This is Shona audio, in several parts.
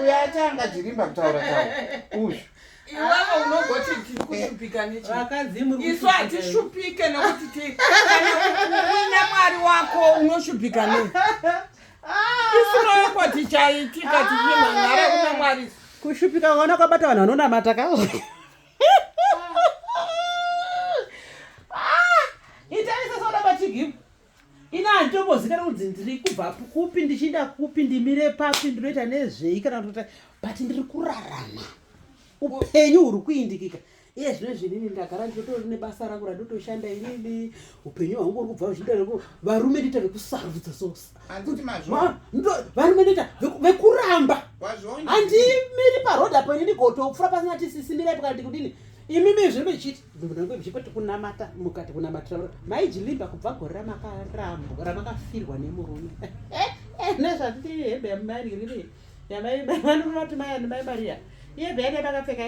uyo atanga jirimba kutaura tawo uyu iwewe unogoti tiri kushupika neisu hatishupike nekuti uina mwari wako unoshupika nei isinoyoko tichaitika tichimhanhara kuna mwari kushupika kwaona kwabata vanhu vanonamata ka ah, itai sesoda bachigimu ini handitombozikana kunzi ndiri kubva kupi ndichiinda kupi ndimire papi ndinoita nezvei kana kuti but ndiri kurarama upenyu huri kuindikika iye zvino zvinini ndagara ndinotori nebasa rangu randotoshanda inini upenyu hwangu uri kubva uchiita reku varume ndoita vekusarudza sovarume ndoita vekuramba handimiri paroad apo inini gotofura pasina tisisimirai pakati kudini imimi zvino ichiti zvipo tikunamata mukati kunamatira maijilimba kubva gore ramakarambo ramakafirwa nemurume nezvatiri hembe yamumari riri yamaivanoti mayani mai mariya iye bhene makapfeka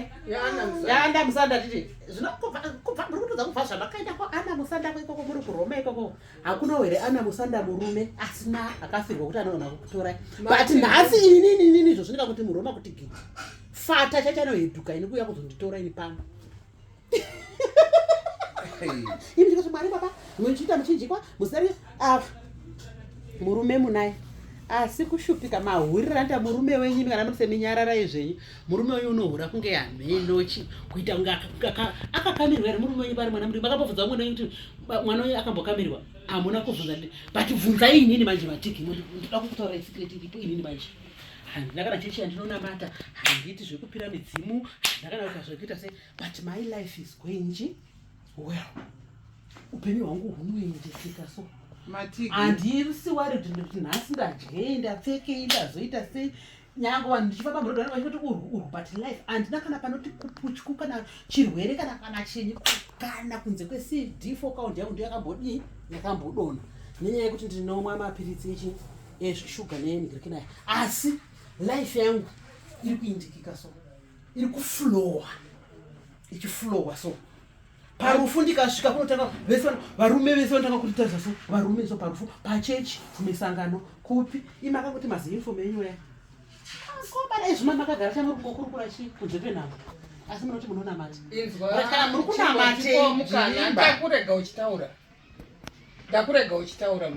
yaana musanda titi zvinokubva muri kutodza kubva zvamakaenda kwaana musanda kwaikoko muri kuroma ikoko hakunawo here ana musanda murume asina akafirwa kuti anoona kukutorai but nhasi inini inini izvo zvinoita kuti muroma kuti gidi fata chachanoheduka ini kuuya kuzonditora ini pano ini ndikati mwari baba muchiita muchinjikwa musari ah, murume munaye asi kushupika mahurira nda murume wenyu imi kana muri seminyararai zvenyu murume wenyu unohura kunge hamenochi kuita kunge akakamirwa here murume wenyu pari mwana mudiki makambobvunza mwana wenyu kuti mwana wenyu akambokamirwa hamuna kubvunza but bvunzai inini manje matiki ndoda kukutaura secret iripo inini manje handina kana chechi yandinonamata handiiti zvekupira midzimu handina kana kuita zvekuita se but my life is going well upenyu hwangu hunoendeseka so handisi wari kuti ndoti nhasi ndadyei ndapfekei ndazoita sei nyange vanhu ndichifamba murodo vanenge vachitoti urwu urwu but life handina kana panoti kuputyu kana chirwere kana kana chinyi kana kunze kwecd fo kaundi yangu ndiyo yakambodii yakambodona nenyaya yekuti ndinomwa mapiritsi echi ezvishuga neyenigirikidai asi life yangu iri kuindikika so iri kuflowa ichiflowa so parufu ndikasvika kunotanga vese varume vese vanotanga kutitarisa so varume so parufu pachechi misangano kupi imakangoti maziinfom enyu ya kobana izvima makagara chamuri kungokurukura chi kunze kwenhamo asi munoti munonamata kana muri kunamatakurega uchitaura ndakurega uchitaura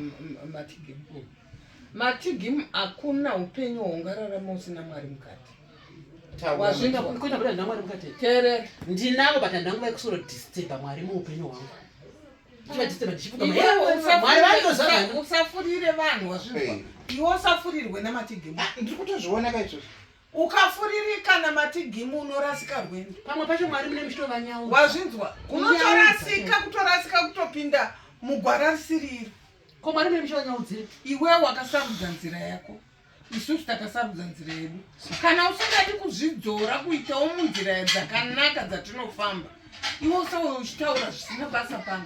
matigim matigim hakuna upenyu hwaungararama usina mwari mukati wazvingateerera ndinavo but handanga vaikusoro disturba mwari muupenyu hwangu usafurire vanhu wazvinwa iwe usafurirwe namatigim ah, ndiri kutozviona kaizvozvo ukafuririka namatigimu unorasika rwendo pamwe pacho mwari mune muchitovanyau wazvinzwa unotorasika kutorasika kutopinda mugwara risiriro ko mwari mune muchitovanyaudzira iwewe wakasarudza nzira yako isusu takasarudza nzira yedu kana usingadi kuzvidzora kuitawo munzira dzakanaka dzatinofamba iwe usawe uchitaura zvisina basa pano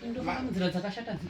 ndoaa munzira dzakashata dzii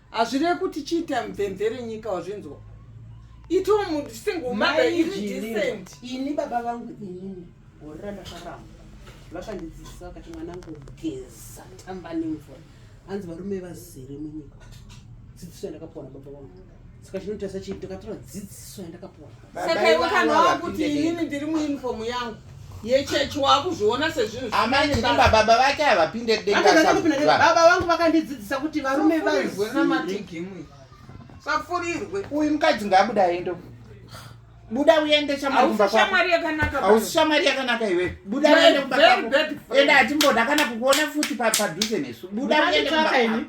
hazvirevi kuti chiita mvemvere nyika wazvinzwa itiwo munhu single mother iri decent ini baba vangu inini gore randakaramba vakandidzidzisa vakati mwana angu geza tamba nemvura hanzi varume vazere munyika dzidziso yandakapuwa na baba vangu saka chinotarisa chii ndakatora dzidziso yandakapuwa saka iwe kana wakuti inini ndiri muuniform yangu yechechi wakuzviona sezvinhubaba vake havapinde debaba vangu vakandidzidzisa kuti varume vazwe namatigimwe safurirwe uyu mukadzi ngaabuda aende buda uende shamwari yakanaka hausi shamwari yakanaka iwe buda uende kubaende hatimboda kana kukuona futi padhuze nesu buda uende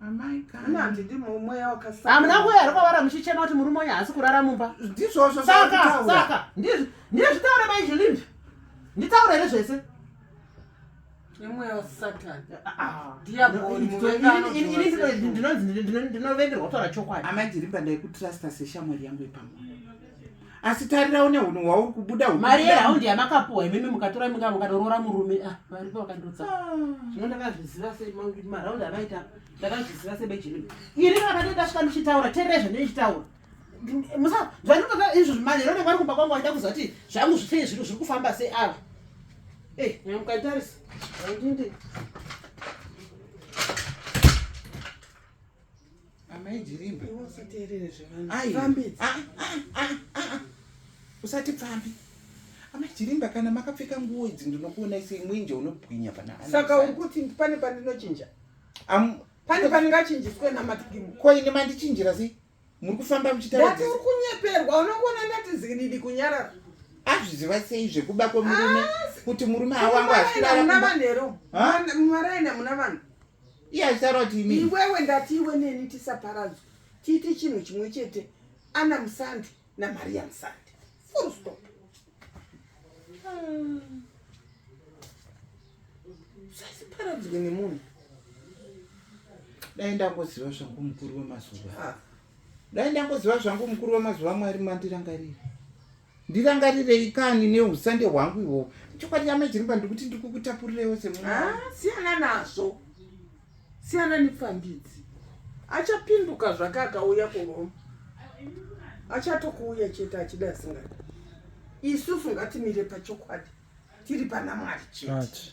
Amai kani. Ina ndidi mweya wakasaka. Hamuna kuya here kwavara muchichema kuti murume uyu haasi kurara mumba. Ndizvozvo zvakutaura. Saka saka ndizvo ndizvo zvitaura mai Julinda. Nditaura here zvese? Nemweya wasatani. Ah, ah. Diaboli muvengano. Ndinonzi ndinovengerwa kutaura chokwadi. Amai Julinda ndaikutrusta seshamwari yangu ipamwe. asi tarira une hunhu hwauri kubuda mari yehaundi yamakapuwa imimi mukatora minga mukadorora murume ah, varipo vakandotsa ah. zvino ndakazviziva semaraundi avaita ndakazviziva sebejilimi ini vakati ndasvika ndichitaura tererai zvandichitaura musa zvandinotoa izvo zvimanero nenge vari kumba kwangu vaida kuziva kuti zvangu zvisei zviri zviri kufamba sei ava e eh, nyamukatarisa andinde Amai Jirimba. Iwe usateerere zvevanhu. Ai. Fambi. Ah, ah, ah, ah. Usati pfambi. Amai Jirimba kana makapfeka nguo idzi ndinokuona isi mwenje unobwinya pana ana. Saka uri kuti pane pandinochinja? Am pane pandingachinjiswe namatikimu. Ko ini mandichinjira sei? Muri kufamba muchitaura. Ndati uri kunyeperwa unokuona ndati zikididi kunyarara. Azviziva sei zvekuba kwemurume ah, kuti murume awangu asvirara. Muna vanhu ero. Mwana aina muna vanhu. iye achitaura kuti ini iwewe ndati iwe neni tisaparadzwe tiite chinhu chimwe chete ana musandi namaria musandi full stop hmm. sasiparadzwe nemunhu dai ndangoziva zvangu mukuru wemazuva ah. dai ndangoziva zvangu mukuru wemazuva mwari mandirangarira ndirangarirei kani neusande hwangu ihwohwo chokwadi yamai jiripa ndikuti ndikukutapurirewo semwana ah, siyana nazvo siyana nepfambidzi achapinduka zvake akauya kuroma achatokuuya chete achida asingadi isusu ngatimire pachokwadi tiri pana mwari chete